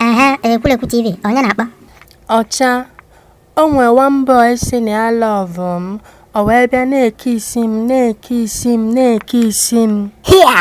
aha ekwulekwu tv onye na-akpọ ọcha o nwee one boy sị na ya lọvụ m o wee bịa na-ekisi m na-ekisi m na-ekisi m hia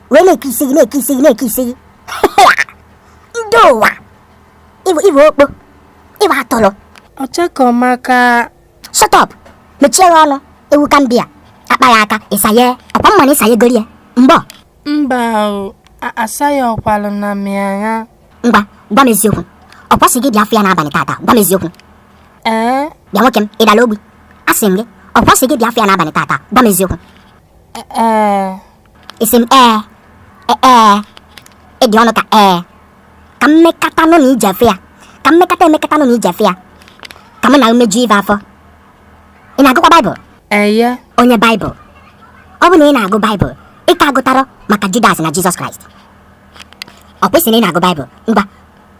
wee na-ekisi gị na-ekisi gị na-ekisi gị ndị ụwa ị bụ ị bụ okpo ị bụ atụrụ ọchakọmaka shut up mechie ya ọnụ ewu ka m bịa akpa ya aka ị saye ọ kwa m ma na ị sayegori ya mbọ mba o a- asaghị ọkwalụ na mịagha ngwa gwa m eziokwu ọ kwa ọ sị gị bịa afụ ya n'abalị tata gwa m eziokwu ee bịa nwoke m ị dara ogbi asị m gị ọ kwa ọ sị gị bịa afụ ya n'abalị tata gwa m eziokwu e- ee ị sị m ee e- ee ị dị ọnụ ka ee ka m mekata nụ na i je afụ ya ka m mekata emekata nụ na i je afụ ya ka mụ na umeju ibe afọ ị na-agụkwa baịbụl eye onye baịbụl ọ bụ na ị na-agụ baịbụl ị ka agụtarọ maka judas na jizọs kraịst ọ kwa ị sị na ị na-agụ baịbụl ngwa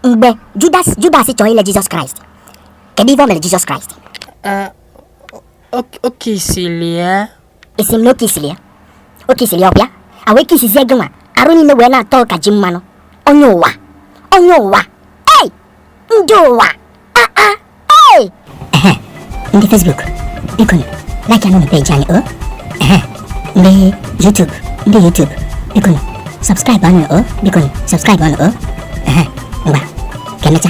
mgbe judas judas chọrọ ile jizọs kraịst kedu ife o mere jizọs kraịst ee o- o- o kisili ya ị sị m na o kisili ya o kisili ya ọ bịa wee kisizie gị nwa arụ niile wee na-atọ ka ji mmanụ onye ụwa onye ụwa ei ndị ụwa aa ah, ah, ei ndị Facebook biko like nụ peji anyị o oh. ndị YouTube ndị YouTube biko subscribe nụ o oh. biko subscribe nụ o oh. ngwa ka emechaa